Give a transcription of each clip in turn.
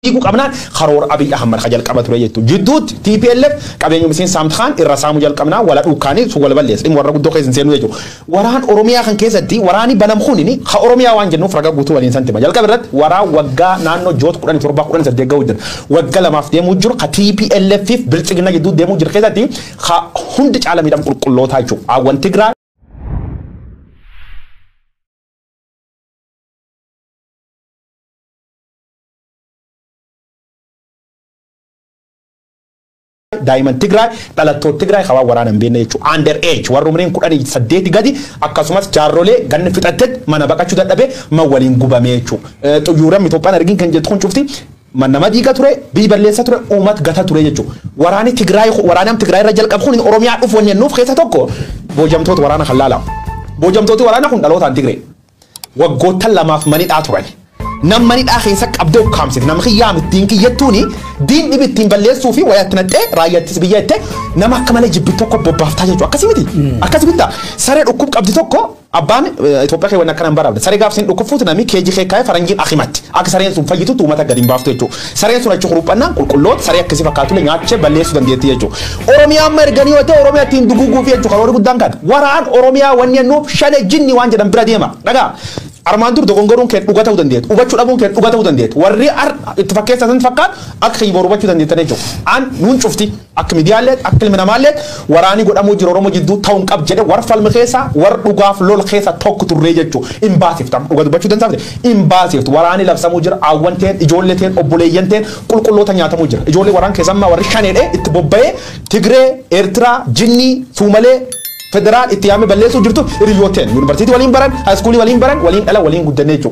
dhiigu qabnaan karoora Abiy Ahmad ka jalqaba ture jechuudha. Jidduutti TPLF qabeenya miseensa saamtu kaan irra saamuu jalqabnaa wala dhuukkaanii sun wala balleessa. Dhimma warra guddoo keessa hin seenuu jechuudha. Waraan Oromiyaa kan keessatti waraanni banam kunini ka Oromiyaa waan jennuuf raga guutuu waliin santima. Jalqaba irratti waraan waggaa naannoo joot kudhan torbaa kudhan saddeet gahuu jira. Wagga lamaaf deemuu jiru ka TPLF fi bilchigina jidduu deemuu jiru keessatti Ka hundi caala miidhamu qulqullootaa jechuudha. Aawwan Tigraay. daa'imman Tigraay dhalattoota Tigraay hawaa waraana hin beekne jechuudha. Under age warra umriin kudhanii saddeeti gadi akkasumas jaarrolee ganna fixattetti mana baqachuu dadhabee man waliin gubamee jechuudha. Xuyyuuran Itoophiyaan argin kan jettu kun cufti man nama diiga ture biy balleessa ture uumat gata ture jechu waraani tigraay waraani am tigraay irra jalqab kun oromiyaa dhuf wanni nuuf keessa tokko boojamtoota waraana kan laala boojamtooti waraana kun dhalootaan tigree waggoottan lamaaf manidhaa turan nam manidhaa keessa qabdee ukkaamsite nam kiyyaa mittiin kiyyattuuni diin dhibi ittiin balleessuu fi wayaatti naxxee raayyaattis biyya ittee nama akka malee jibbi tokko bobbaaftaa jechu akkasi miti akkasi bitta saree dhukkub qabdi tokko Abbaan Itoophiyaa kee wanni akkana hin baraamne. Saree gaaf sin dhukkuffuuti namii keeji kee kaa'ee faranjiin akimatti. Akka sareen sun fayyitutti uummata gadi hin baaftu jechuudha. Sareen sun achi kuruphannaan qulqulloota saree akkasii fakkaatule nyaachee balleessuu dandeetti jechuudha. Oromiyaa amma erganii yoo ta'e Oromiyaa ittiin duguuguufi jechuudha karoorri guddaan kan. Waraan Oromiyaa wanni annuuf shane jinni waan jedhan bira deema. Dhagaa. Armaan dur dogongoruun kee dhuga ta'uu dandeetti. Hubachuu dhabuun kee dhuga ta'uu dandeetti. Warri ar itti fakkeessan fakkaatu akka kiyboor hubachuu dandeettan jechuudha. An nuun cufti. Akk midiyaalleet akk ilmi namaalleet waraani godhamuu jiru oromo jidduu ta'u hin qab jedhe war falm keessa war dhugaaf lol keessa tokk turree jechu hin baasiftu amma dhuga dubbachu dansaafte hin baasiftu waraani labsamuu jira aawwan teen ijoolle teen obboleeyyan teen qulqulloota nyaatamuu jira ijoollee waraan keessa amma warri shanee dhe itti bobba'ee tigree eertiraa jinnii suumalee federaal itti yaame balleessuu jirtu hiriyyoot teen yunivarsiitii waliin baran haayiskuulii waliin baran waliin dhalan waliin guddanne jechu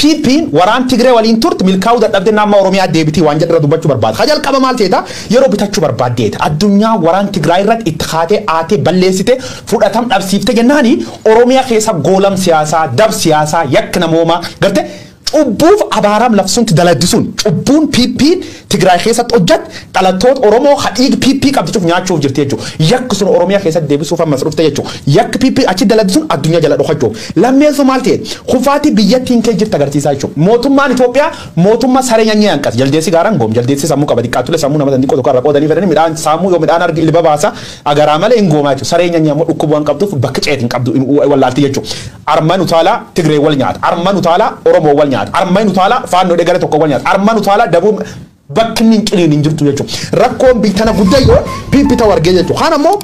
PPn waraan Tigree waliin turte milkaa'uu dadhabde na amma Oromiyaa deebitii waan jedhu irra dubbachuu barbaada. Ka jalqaba maal jeeta? Yeroo bitachuu barbaaddeeta. Addunyaan waraan Tigraay irratti itti kaatee aatee balleessite fudhatam dhabsiifte jennaani Oromiyaa keessa goolam siyaasaa, dab siyaasaa, yakk namoomaa, garte, cubbuuf abaaraam labsuun ti daladdi sun. Cubbuun PPn Tigraay keessatti hojjatte dhalattoota Oromoo ka dhiig PP qabdi cuf nyaachuuf jirti jechu. Yakk sun Oromiyaa keessatti deebisuuf ammas dhufte jechu. Yakk PP achi dalagdi sun addunyaa jala dhokachuuf. Lammeessoo maal ta'e? Kufaatii biyyattiin kee jirti agarsiisaa jechu. Mootummaan Itoophiyaa mootummaa saree nyanyee hanqas. Jaldeessi gaaraan goom. Jaldeessi sammuu qaba. Diqqaattulee sammuu nama san xiqqoo tokko irra qoodanii fedhanii midhaan saamuu yoo midhaan arge ilba baasa. Agaraa malee hin goomaa jechuudha. Saree nyanyaa immoo dhukkuba waan qabduuf bakka ceetu hin qabdu wallaalti jechuudha. Armaan utaalaa Tigree wal nyaata. Armaan utaalaa Oromoo wal nyaata. Armaan utaalaa Faannoo dhegara tokko wal nyaata. Armaan utaalaa Dabuun bakki inni hin ciniin hin jirtu jechuudha. Rakkoon biitana guddayyoon PP ta'u argee jechuudha. Kaan ammoo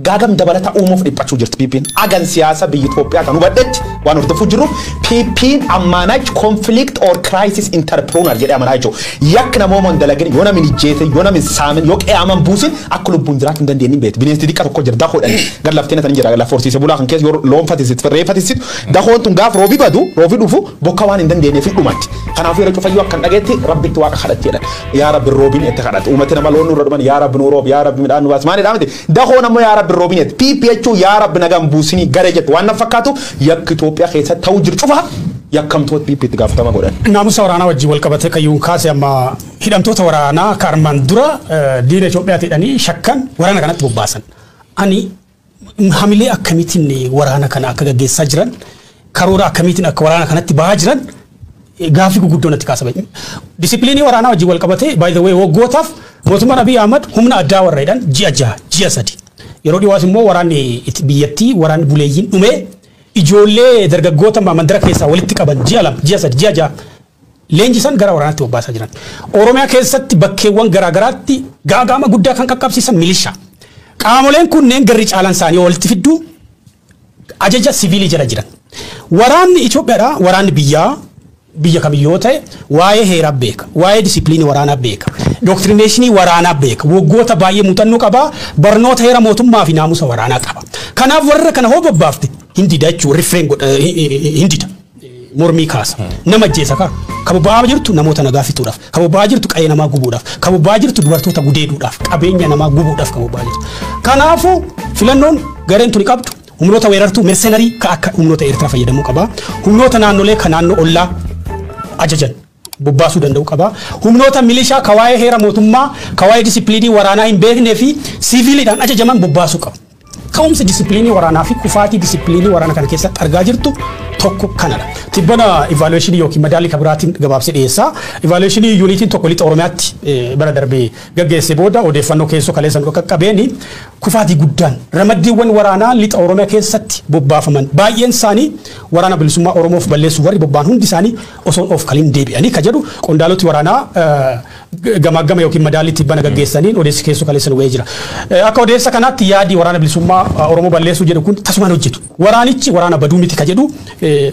gaagam dabalata uumuuf dhiphachuu jirti PPn. Agan siyaasa biyya Itoophiyaa kan hubadhetti waan hordofuu jirruuf PPn ammaanach conflict or crisis entrepreneur jedhee amanaa jechuudha. Yakk namooma hin dalagin, yoo nam hin ijjeesin, yoo nam hin saamin, yoo qeyaama hin buusin akka lubbuun jiraachu hin dandeennin beeti. Bineensi diqqa tokko jira dakoo dhan gar laf teena tan jira laf horsiise bulaa kan keessa yoo loon fatisitu, re'ee fatisitu dakoon tun gaaf roobi badu, roobi dhufu bokka waan hin dandeenneef hin dhumatti. Kanaafu yeroo cufa yoo akkan dhageetti rabbitti waaqa kadhatti jedhan. Yaa rabbi roobin itti kadhatu. Uumati nama loon nurra dhuman yaa rabbi nuu roobi, yaa rabbi midhaan nu baasi. Maalidhaa miti? Dakoon ammoo yaa rabbi roobin jette. PP jechuun yaa rabbi nagaan buusinii garee jettu waan na fakkaatu yakki Itoophiyaa keessatti ta'uu jiru cufa yakkamtoota PP itti gaafatama godhan. Naamusa waraanaa wajjin wal qabatee kayyuun kaase amma hidhamtoota waraanaa ka armaan dura eh, diina Itoophiyaati jedhanii shakkan waraana kanatti bobbaasan. Ani hamilee akkamiitiin waraana kana akka gaggeessaa jiran Karoora akkamiitiin akka waraana kanatti bahaa jiran gaaffii gurguddoo natti kaasa. Disipiliinii waraanaa wajjin wal qabatee by the way waggootaaf mootummaan Abiy Ahmad humna addaa warra jedhan ji'a jaha ji'a sadi. Yeroo dhiwaas immoo waraanni itti- biyyattii waraanni buleeyyiin dhumee ijoollee dargaggoota mandara keessaa walitti qaban ji'a lama ji'a sadi ji'a jaha leenjisan gara waraanaatti bobbaasaa jiran. Oromiyaa keessatti bakkeewwan garaagaraatti gaaga'ama guddaa kan qaqqabsiisan milishaa. Qaamoleen kunneen garri caalaan isaanii walitti fidduu ajaja siviilii jala jiran. Waraanni Itoophiyaadhaa waraanni biyyaa biyya kamiyyuu yoo ta'e waa'ee heeraa beeka, waa'ee disiipiliinii waraanaa beeka, dooktirineeshinii waraanaa beeka, waggoota baay'ee muuxannoo qaba, barnoota heera mootummaa fi naamusa waraanaa qaba. Kanaaf warra kana hoo bobbaafte hin dida jechuudha, refrain godha, hin dida. mormii kaasa. Nama ajjeesa kaa. Ka bobba'aa jirtu namoota nagaa fixuudhaaf. Ka bobba'aa jirtu qa'ee namaa gubuudhaaf. Ka bobba'aa jirtu dubartoota gudeeduudhaaf. Qabeenya namaa gubuudhaaf ka bobba'aa jirtu. Kanaafuu filannoon gareen tuni qabdu humnoota weerartuu mersenarii ka akka humnoota Eertiraa fayyadamuu qaba. Humnoota naannolee ka naannoo ollaa ajajan. bobbaasuu danda'u qaba. Humnoota milishaa ka waa'ee heera mootummaa, ka waa'ee disippiliinii waraanaa hin beeknee fi siiviiliidhaan ajajaman bobbaasuu qaba. Ka'umsi disippiliinii waraanaa fi kufaatii disippiliinii waraana kana keessatti argaa jirtu tokko kana dha. Tibbana ivaaluweeshinii yookiin madaallii ka biraatiin gabaabsee dhiyeessa. Ivaaluweeshinii yuuniitiin tokko lixa Oromiyaatti eh, bara darbe gaggeesse booda odeeffannoo keessoo kaleessa nu qaqqabeen kufaatii guddaan ramaddiiwwan waraanaa lixa Oromiyaa keessatti bobbaafaman baay'een isaanii waraana bilisummaa Oromoof balleessuuf warri bobba'an hundi isaanii osoo hin oofkalin deebi'anii ka jedhu qondaaloti waraanaa gamaaggama yookiin madaallii tibbana gaggeessaniin odeessi keessoo kaleessa nu ga'ee jira. Akka odeessa kanaatti yaadi waraana bilisummaa Oromoo balleessuu jedhu kun tasumaan hojjetu. Waraanichi waraana baduu miti ka jedhu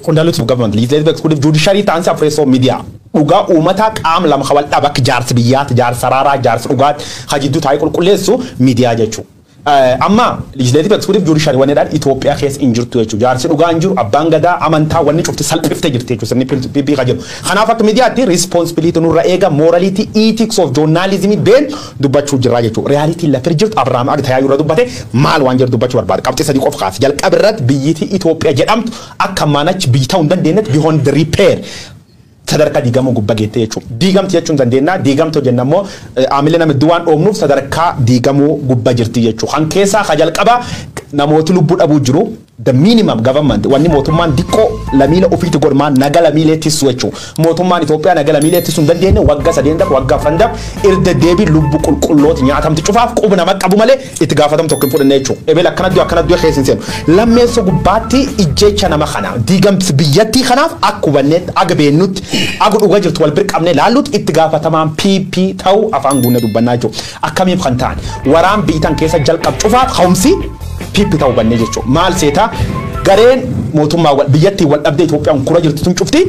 qondaaloti. Government legislative executive judiciary taansi afreessoo miidiyaa dhugaa uumataa qaam lama ka wal dhaba akka jaarsi biyyaatti jaarsa raaraa jaarsa dhugaatti ka jidduu taa'ee qulqulleessu miidiyaa jechuu. Amma legislative executive judiciary wanni jedhaan Ethiopia keessa hin jirtu jechuudha. Jaarsi dhugaa hin jiru, abbaan gadaa, amantaa wanni cufti salphiftee jirti jechuudha sirni PP kan jedhu. Kanaaf akka miidiyaatti responsibility nurra eega morality ethics of journalism been dubbachuu jirraa jechuudha. Reality lafir jirtu Abraham Ag Tayaayyuu irra dubbate maal waan jedhu dubbachuu barbaada. Qabxii sadii qof kaase. Jalqaba irratti biyyiti Ethiopia jedhamtu akka manach biyyi ta'uu hin dandeenyet beyond repair. sadarkaa diigamuu gubba geette jechuu. Diigamti jechuu hin dandeennaa, diigamti yoo jenna immoo aamilli nama hedduu waan dhoomnuuf sadarkaa diigamuu gubba jirti jechuu. Kan keessaa ka jalqaba namooti lubbuu dhabuu jiru, the minimum government wanni mootummaan diqqoo lamiile ufiiti godhu maan naga lamiilee tissu jechuu. Mootummaan Itoophiyaa naga lamiilee tissu hin dandeenne wagga sadeen dab wagga afran dab irdeddeebiin lubbu qulqullooti nyaatamti cufaaf qub nama qabu malee itti gaafatam tokko hin fudhanne jechu ebel akkana du'e akkana du'e keessa hin seenu lammeessa gubbaatti ijjecha nama kana diigamsi biyyattii kanaaf akka hubanneetti aga beennutti aga dhuga jirtu wal bir qabne laallutti itti gaafatamaan PP ta'uu afaan guunne dubbannaa jechu akkamiif kan ta'an waraan biyyitan keessa jalqab cufaaf ka'umsi PP ta'uu hubannee jechu maal seetaa gareen mootummaa biyyattii wal dhabdee Itoophiyaan kura jirtu tun cufti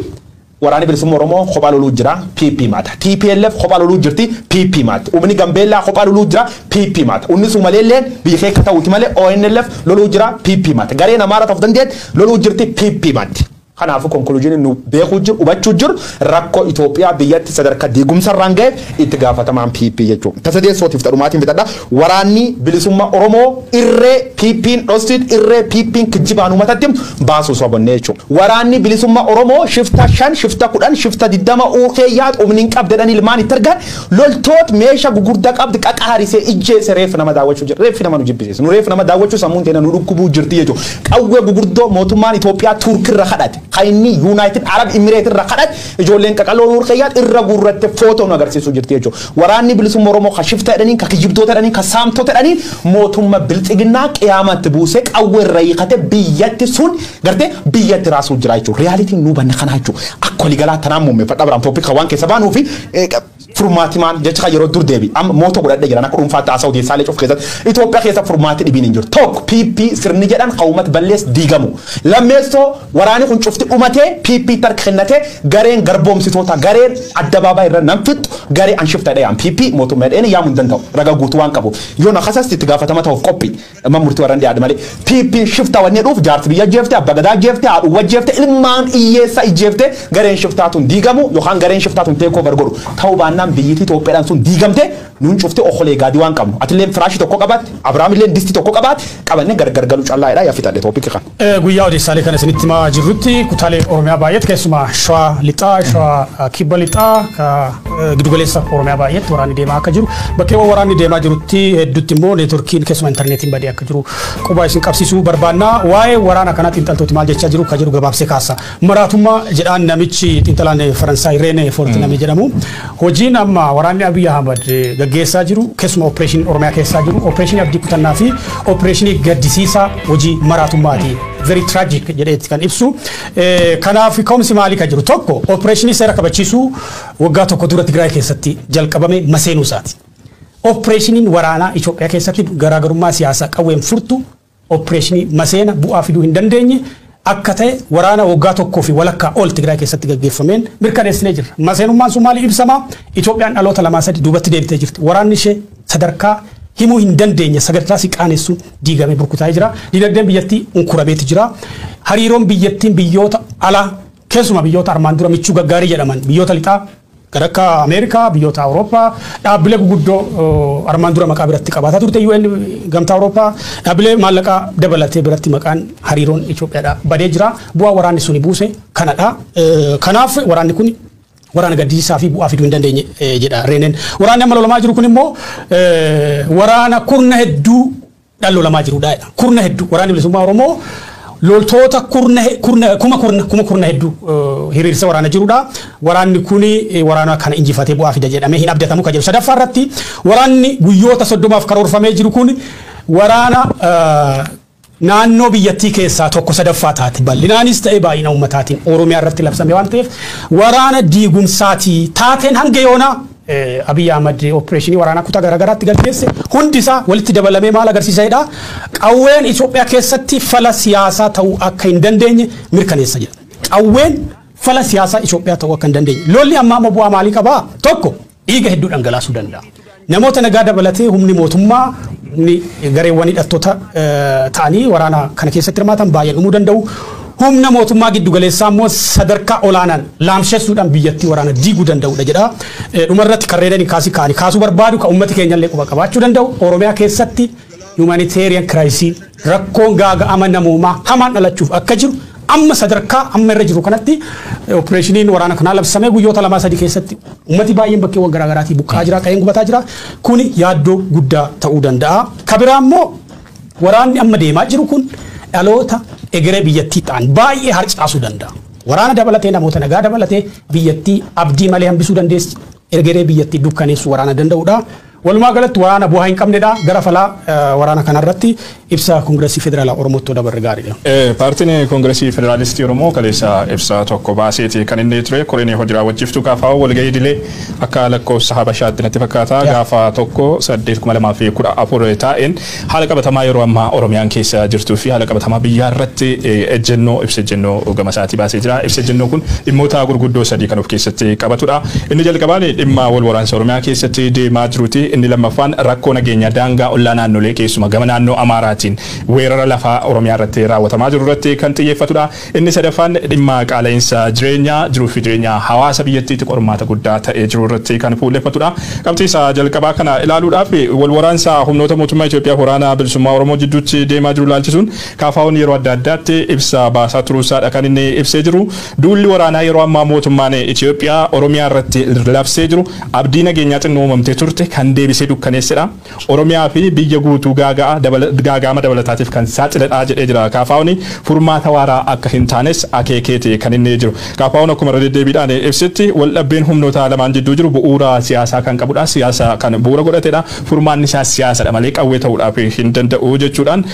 Waraani Bilisumma Oromoo kophaa loluu jira, PP maata. Tplf kophaa loluu jirti, PP maati. Umini Gambeellaa kophaa loluu jira, PP maata. Unni Suumaleelleen biyya keekka ta'uuti malee ONLF loluu jira, PP maata. Gareen Amaaraa ta of dandeette loluu jirti, PP maatti. Kanaafuu conclusion nu beekuu jiru, hubachuu jiru, rakkoo Itoophiyaa biyyatti sadarka diigumsa irraan gaheef itti gaafatamaan PP jechuu. Ta sadeessootiif ta dhumaatiin fixadha. Waraanni bilisumma Oromoo irree PPn dhossite irree PPn kijjibaan umatatti baasu sobonnee jechuu. Waraanni bilisumma Oromoo shifta shan shifta kudhan shifta digdama uu keeyaat umni hin qabd jedhani ilmaan itti ergan loltoot meesha gugurda qabd qaqaharise ijjeese reef nama daawachuu jira reef nama nu jibbisiisa nu reef nama daawachuu sammuun teena nu dhukkubuu jirti jechuu. Qawwee gugurdoo mootummaan Itoophiyaa Turk irra kadhate ka inni United Arab Emirate irra kadhate ijoolleen qaqaloo uu keeyaat irra guurratte footoo nu agarsiisuu jirti jechuu. Waraanni bilisumma oromoo ka shifta jedhaniin ka kijibdoota jedhaniin ka saamtota jedhaniin mootumma bilxiginnaa qiyaama itti buusee qawwe irra hiikate biyyatti sun garte biyya itti raasuu jira jechuudha realitiin nu hubanne kana jechuu akka waligalaa tanaan muummeffadha biraan topic kan waan keessa baanuu fi furmaati maal jecha kan yeroo dur deebi amma mooto godhadhe jiran akka dhuunfaatti haasa'u deessaa leecuuf keessatti Itoophiyaa keessa furmaati dhibiin hin jiru tokko PP sirni jedhan hawumat ballees diigamu lammeessoo Waraani kun ch'ufti d'umate, PPti harka kennate, gareen garboomsitoota, gareen addabaabaayii irra nam fixxu, garee an shifta jedhee yaamu. PP mootumma jedheeni yaamu hin danda'u, raga guutu waan qabuuf. Yo na kasasti itti gaafatama tahuuf qophi. Mana murti warra hin dhiyaadhu malee. PPn shifta wanni jedhuuf jaarsa biyya ajjeefte, abba gadaa ajjeefte, haadhuuwwa ajjeefte, ilmaan hiyyeessa ijjeefte, gareen shiftaa tun diigamu yokaan gareen shiftaa tun take over godhu. Tahu baannaan biyyiti Itoophiyadhan sun diigamte, nun ch'ufti okolee gaadi waan qabnu. Atilleen firaashi tokko qabaatte, Abrahamilleen disti tokko qabaate, qabanne gargar galu ch'allaa jedha ya fixadhe topic kana. Guyyaa odeessaalee kana isinitti himaa jirrutti kutaalee Oromiyaa baay'eetti keessumaa Shawaa Lixaa, Shawaa Kibba Lixaa, Gidugaleessa Oromiyaa baay'eetti waraanni deemaa akka jiru bakkeewwan waraanni deemaa jirutti hedduutti immoo neetworkiin keessumaa intarneetiin badee akka jiru qubaa isin qabsiisuu barbaanna. Waa'ee waraana kanaa xiinxaltooti maal jechaa jiru akka jiru gabaabsee kaasa. Maraatummaa jedhaan namichi xiinxalaan Faransaay Reenee Foort namni jedhamu hojiin amma waraanni Abiy Ahmad gaggeessaa jiru keessuma opereeshiniin Oromiyaa keessaa jiru opereeshinii abdii kutannaa fi opereeshinii gaddisiisaa hojii maraatummaati. Very tragic jedheetti kan ibsu. Kanaaf ka'umsi maalii kan jiru tokko opereeshinii seera kabachiisuu waggaa tokko dura Tigraay keessatti jalqabame maseenuu isaati. Opereeshiniin waraanaa Itoophiyaa keessatti garaagarummaa siyaasaa qawween furtu oppireeshinii maseena bu'aa fiduu hin dandeenye akka ta'e waraana waggaa tokkoo fi walakkaa ol Tigraay keessatti gaggeeffameen mirkaneessinee jirra. Maseenummaan sun maaliin ibsama? Itoophiyaan dhaloota lamaa sadi duubatti deebitee jirti. Waraanni ishee sadarkaa himuu hin dandeenye sadarkaa si qaanessuun diigamee burkutaa'ee jira. Dinagdeen biyyattii unkurameeti jira. Hariiroon biyyattiin biyyoota alaa keessumaa biyyoota armaan dura michuu gaggaarii jedhaman biyyoota lixaa Kan akka Ameerikaa, biyyoota Awurooppaa, dhaabbilee guguddoo armaan dura maqaa biratti qabaataa turte UN, Gamtaa Awurooppaa, dhaabbilee maallaqaa dabalatee biratti maqaan hariiroon Itoophiyaadhaa badee jira. Bu'aa waraanni suni buuse kanadha. Kanaaf waraanni kun waraana gaddisiisaa fi bu'aa fiduu hin dandeenye jedha Reeneen. Waraanni amma lolamaa jiru kun immoo waraana kurna hedduu dhaan lolamaa jiru dha jedhan. Kurna hedduu waraanni bilisummaa Oromoo loltoota kurna he- kurna- kuma kurna kuma kurna hedduu eh, hiriirsee waraana jiru dha. Waraanni kun eh, waraana kana injifatee bu'aa fida jedhamee hin abdatamu kan jedhu. Sadaffaa irratti waraanni guyyoota soddomaaf karoorfamee jiru kun waraana eh, naannoo biyyattii keessaa tokko sadaffaa taate bal'inaanis ta'e baay'ina ummataatiin Oromiyaa irratti labsame waan ta'eef waraana diigumsaatii taateen hanga yoonaa Abiy Ahmad oppireeshinii waraanaa kutaa garaagaraatti gaggeesse hundi isaa walitti dabalamee maal agarsiisa jedha qawween Itoophiyaa keessatti fala siyaasaa ta'uu akka hin dandeenye mirkaneessa jedha. Qawween fala siyaasaa Itoophiyaa ta'uu akka hin dandeenye. Lolli ammaa amma bu'aa maalii qabaa? Tokko dhiiga hedduu dhangalaasuu danda'a. Namoota nagaa dabalatee humni mootummaa humni gareewwan hidhattoota ta'anii waraana kana keessatti hirmaatan baay'een dhumuu danda'u. Humna mootummaa giddugaleessaa immoo sadarkaa olaanaan laamshessuudhaan biyyattii waraana diiguu danda'udha jedha. Dhumarratti kan reedaniin kaasii kaa'anii kaasuu barbaadu kan uummati keenya illee quba qabaachuu danda'u Oromiyaa keessatti humanitarian kiraayisii rakkoon gaaga'ama namoomaa hamaan dhalachuuf akka jiru amma sadarkaa amma irra jiru kanatti opereeshiniin waraana kanaa labsamee guyyoota lamaa sadii keessatti uummati baay'een bakkeewwan garaagaraatii buqqaa jira qa'een gubataa jira kuni yaaddoo guddaa ta'uu danda'a. Kabiraa immoo Waraanni amma deemaa jiru kun dhaloota egeree biyyattii ta'an baay'ee harcaasuu danda'a. Waraana dabalatee namoota nagaa dabalatee biyyattii abdii malee hambisuu dandeessi. Egeree biyyattii dukkaneessuu waraana danda'udha. Walumaa galatti waraana bu'aa hin qabnedha. Gara falaa waraana kanarratti ibsa Koongiresii Federaalaa Oromootti dabarre gaariidha. Paartiin Koongiresii Federaalistii Oromoo kaleessa ibsa tokko baaseeti kan inni ture koreen hojii raawwachiiftuu KFO walgahii idilee Akka lakkoofsa Habashaatti natti fakkaata gaafa 1/8/2014 taa'een haala qabatamaa yeroo ammaa Oromiyaan keessa jirtuu fi haala qabatamaa biyyaa irratti ejjennoo ibsa ejjennoo gama isaatii baasee jira. Ibsa ejjennoo kun dhimmoota gurguddoo sadii kan of keessatti qabatudha. Inni jalqabaan dhimma wal waraansa Oromiyaa keessatti deemaa jiruuti. Inni lammaffaan rakkoo nageenyaa daangaa ollaa naannolee keessumaa gama naannoo Amaaraatiin weerara lafaa Oromiyaa irratti raawwatamaa jiru irratti kan xiyyeeffatudha. Inni sadaffaan dhimma qaala'insa jireenyaa jiruufi jireenya hawaasa biyyattiitti qormaata guddaa ta'ee jiru irratti kan fuulleffatudha. Qabxii isa jalqabaa kana ilaaluudhaaf walwaraansa humnoota mootummaa Itoophiyaaf Waraana Bilisummaa Oromoo jidduutti deemaa jiru ilaalchisuun KFOn yeroo adda addaatti ibsa baasaa turuusaadha kan inni ibsee jiru. Duulli waraanaa yeroo ammaa mootummaan Itoophiyaa Oromiyaa irratti labsee jiru abdii nageenyaa xinnoo uumamtee turte kan deebisee dukkaneessedha. Oromiyaa fi biyya guutuu gaaga'ama dabalataatiif kan saaxiledha jedhee jira. KFOn furmaata waaraa akka hin taanes akeekeeti kan inni jiru. KFOn akkuma irra deddeebiidhaan ibsetti waldhabbeen humnoota lamaan jidduu jiru bu'uura siyaasaa kan qabudha, siyaasa kan bu'uura godhatedha, furmaanni isaas siyaasadha malee qawwee ta'uudhaaf hin danda'u jechuudhaan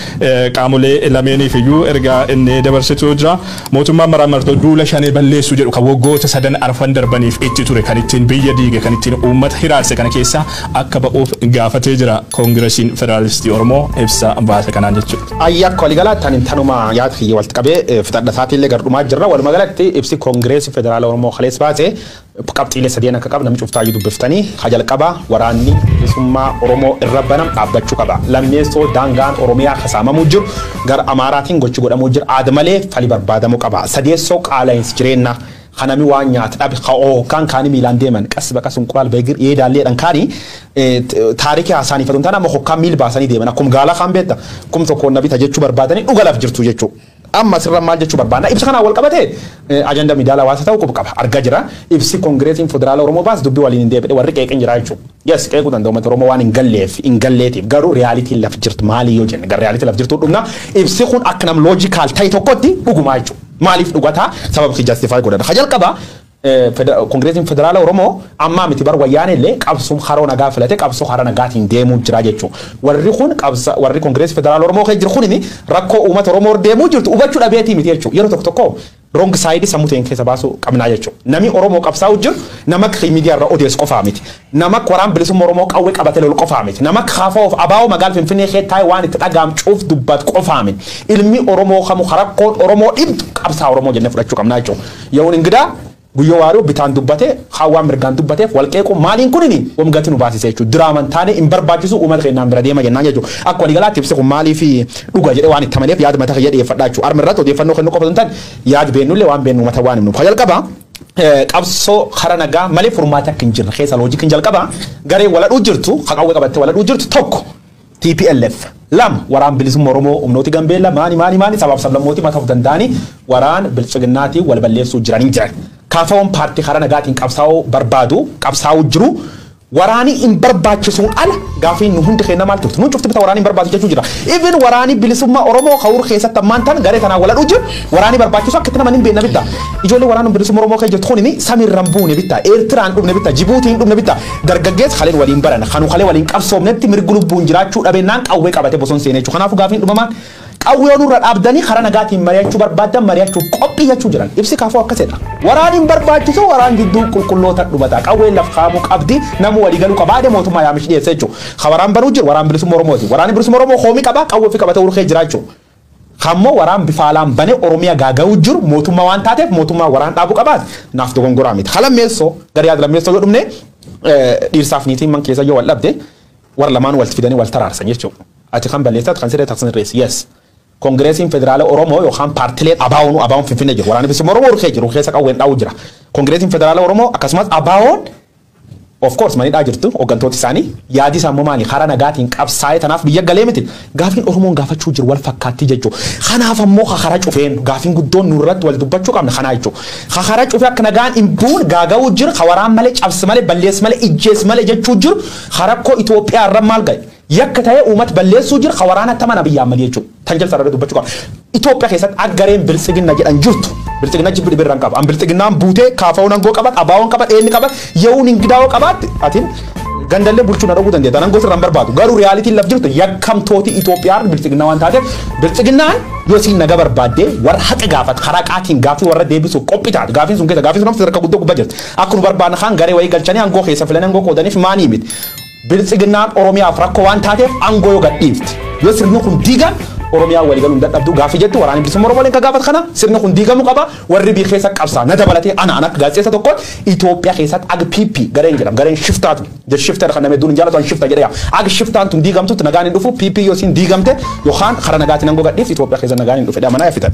qaamolee lameeniifiyyuu ergaa inni dabarsetu jira. Mootummaan maraammartoo duula Shanee balleessuu jedhu kan waggoota sadan arfan darbaniif itti ture, kan ittiin biyya diige, kan ittiin uummata hiraarse kana keessaa akka ba'uuf gaafatee jira. Koongirasiin Federaalistii Oromoo ibsa baase kanaan jechuudha. Ayyi akka waligalaatti ani tanuma yaada kiyya walti qabee fixadha isaatiillee gar dhumaa jirra waluma galatti ibsi koongireesi federaala oromoo kalees baase qabxiilee sadeen akka qaba namni cuftaayyuu dubbiftanii ka jalqaba waraanni bilisummaa oromoo irra banam dhaabbachuu qaba lammeessoo daangaan oromiyaa kasaamamuu jiru gara amaaraatiin gochi godhamuu jira aada malee fali barbaadamuu qaba sadeessoo qaala'insi jireennaa ka nami waan nyaat dhabe, ka ookkaan kaani miilaan deeman, qas ba qas unqulaal ba egir ee daallee dhan kaani taariki haasaaniif otu hin taane amma hokkaan miil baasanii deeman akkum gaala kaan beetta kum tokkoon na bita jechuu barbaadani dhuga laf jirtu jechu. Amma asirra maal jechuu barbaanna ibsa kanaan wal qabatee ajanda miidaala hawaasa ta'u qub qaba arga jira ibsi kongireesiin federaala Oromoo baas dubbi waliin hin deebine warri qeeqin jira jechu. Yes qeequu danda'u uummata Oromoo waan hin galleef hin galleetiif garuu reyaalitiin laf jirtu maali yoo jenne gar reyaalitii laf jirtuu dhumna ibsi kun akka nam loojikaal ta'e tokkotti dhugumaa jechu. Maaliif dhugata sabab si justify godhata ka jalqaba kongiresiin federaala oromoo ammaa miti bar wayyaanee illee qabsum haroo nagaa filate qabsoo hara nagaatiin deemuu jira jechuu warri kun qabsa warri kongireesii federaala oromoo kee jiru kunini rakkoo uumata oromoo deemuu jirtu hubachuu dhabeetii miti jechuu yeroo tokko tokko wrong side sammuu ta'een keessa baasuu qabnaa jechuu nami oromoo qabsaa'u jiru nama miidiyaa irra odeessu qofaa miti Namak waraan bilisumma Oromoo qawwe qabate lol qofaa mit. Namak kfo fi abo magaal Finfinee kee tae waan itti dhagaam cuuf dubbat qofaa mit. Ilmi Oromoo kamu ka rakkoon Oromoo dhibdu qabsaa Oromoo jenne fudhachuu qabnaa jechu. Yawun Ingidaa, Guyyoo Waariyoo bitaan dubbate, kaan waan mirgaan dubbateef wal qeequun maaliin kunini wom gati nu baasise jechu. Diraaman taane hin barbaachisu uumata keennaan bira deema jennaan jechu. Akka walii galaatti ibsi kun maaliif dhuga jedhe waan itti amaneef yaad mata kiyya dhiyeeffadha jechu. Arm irratti odeeffannoo kennuu qofa osoo hin taane yaad beennullee waan beennu uumata waan himnuuf. Ka jalqaba. qabsoo kara nagaa malee furmaata akka hin jirre keessaa loojikiin jalqaba garee waladhuu jirtu ka qawwee qabattee waladhuu jirtu tokko TPLF lama waraan bilisummaa Oromoo humnooti Gambeella maani maani maani sabaaf sablammooti mataa of danda'anii waraan bilchiginnaatiin wal balleessuu jiranii jiran. Kaafaawwan paartii kara nagaatiin qabsaa'uu barbaadu qabsaa'uu jiru Waraani hin barbaachisuun ala gaafiin nu hundi keennaa maal turte? Nuun cufti bita waraani hin barbaachisu jechuu jirra. Even waraani bilisummaa Oromoo ka ur keessatti ammaan tan garee tanaan wal hadhuu jiru waraani barbaachisu akka itti naman hin beenna bitta. Ijoollee waraanum bilisumma Oromoo kee jirtu kunini samirra hin buune bitta. Eertiraa hin dhumne bitta. Jibuutii hin dhumne bitta. Dargaggeessi kaleen waliin barana. Kanu kalee waliin qabsoomnetti mirgi lubbuun jiraachuu dhabeennaan qawwee qabate boson seenee jechu. Kanaafu gaafiin dhumamaan Qawwee yoo nurra dhaabdanii karaa nagaatiin mari'achuu barbaaddan mari'achuuf qophii jechuu jiran. Ibsi kfo akkas jedha. Waraan hin barbaachisu waraan jidduu qulqullootan dhumata. Qawween laf kaa'amuu qabdi. Namuu walii galuu qaba. Ade mootummaa yaamichi dhiyeesse jechu. Ka waraan banuu jiru waraan bilisumma Oromooti. Waraanni bilisumma Oromoo koomii qaba qawwee ofii qabatee urkee jiraa jechu. Ka ammoo waraan bifa alaan banee Oromiya gaaga'uu jiru mootummaa waan taateef mootummaan waraan dhaabuu qabaati. Naaf dogongoraa miti. Ka lammeessoo gara yaada lammeessoo yoo dhumne dhiirsaaf niitiin man keessa yoo wal dhabde warra lamaan wal fidanii wal taraarsan jechuudha. Ati kan balleessite ati kan sirreessitu ati sirreessi yes Kongireesiin Federaala Oromoo yookaan paartileen ABOn ABOn Finfinnee jiru waraanni bilisummaa Oromoo rukee jiru keessa qawween dhaa'uu jira Kongireesiin Federaala Oromoo akkasumas ABOn of course manidhaa jirtu hoggantooti isaanii yaadi isaa immoo maali karaa nagaatiin qabsaa'ee tanaaf biyya galee miti gaafiin Oromoon gaafachuu jiru wal fakkaattii jechuu kanaaf ammoo kakara cufeen gaafiin guddoon nurratti wal dubbachuu qabna kanaa jechuu kakara cufee akka nagaan hin buun gaaga'uu jira kawaraan malee cabsi malee balleessi malee ijjeessi malee jechuu jiru karakkoo Itoophiyaa irra maal ga'e Yakka ta'ee uumat balleessuu jira ka waraana attaman Abiy Ahmed jechuun tan jalsa irra dubbachu qaba. Ethiopia keessatti akka gareen biltsiginna jedhan jirtu biltsiginna jibbi dhibi irra hin qabu. An biltsiginnaan buutee KFOn angoo qabat, ABOn qabat, ENn qabat, Yawun Ingidawo qabaatte atin gandallee bulchuu na dhowwuu dandeetta. An angoo sirra hin barbaadu. Garuu realitiin laf jirtu yakkamtooti Ethiopia har'a biltsiginna waan taateef biltsiginnaan yoo siin naga barbaaddee warra haqa gaafat karaa qaatiin gaaffii warra deebisuuf qophii taate gaaffiin sun keessa gaaffiin sun sadarkaa guddoo gubbaa jirti. Akka nu barbaadna kaan garee wayii galchanii angoo keessa filanii angoo qoodaniif maanii miti. Biltsiginnaan Oromiyaaf rakkoo waan taateef aangoo yoo gadhiifte, yoo sirni kun diigan Oromiyaan walii galuu hin dadhabduu gaaffii jettu Waraanni Bilisummaa Oromoo illeen kan gaafatu kana. Sirni kun diigamuu qaba. Warri biyya keessa qabsaa'an na dabalatee ana ana akka gaazexeessa tokkootti Itoophiyaa keessatti ag PP gareen jedhamu gareen shiftaa tun the shifter kan namni hedduun hin jaalatu an shifta jedhee yaama. Ag shiftaan tun diigamtutti nagaan hin dhufu PP yoo isiin diigamte yookaan karaa nagaatiin aangoo gadhiifte Itoophiyaa keessa nagaan hin dhufu jedhee amanaa yaffitan.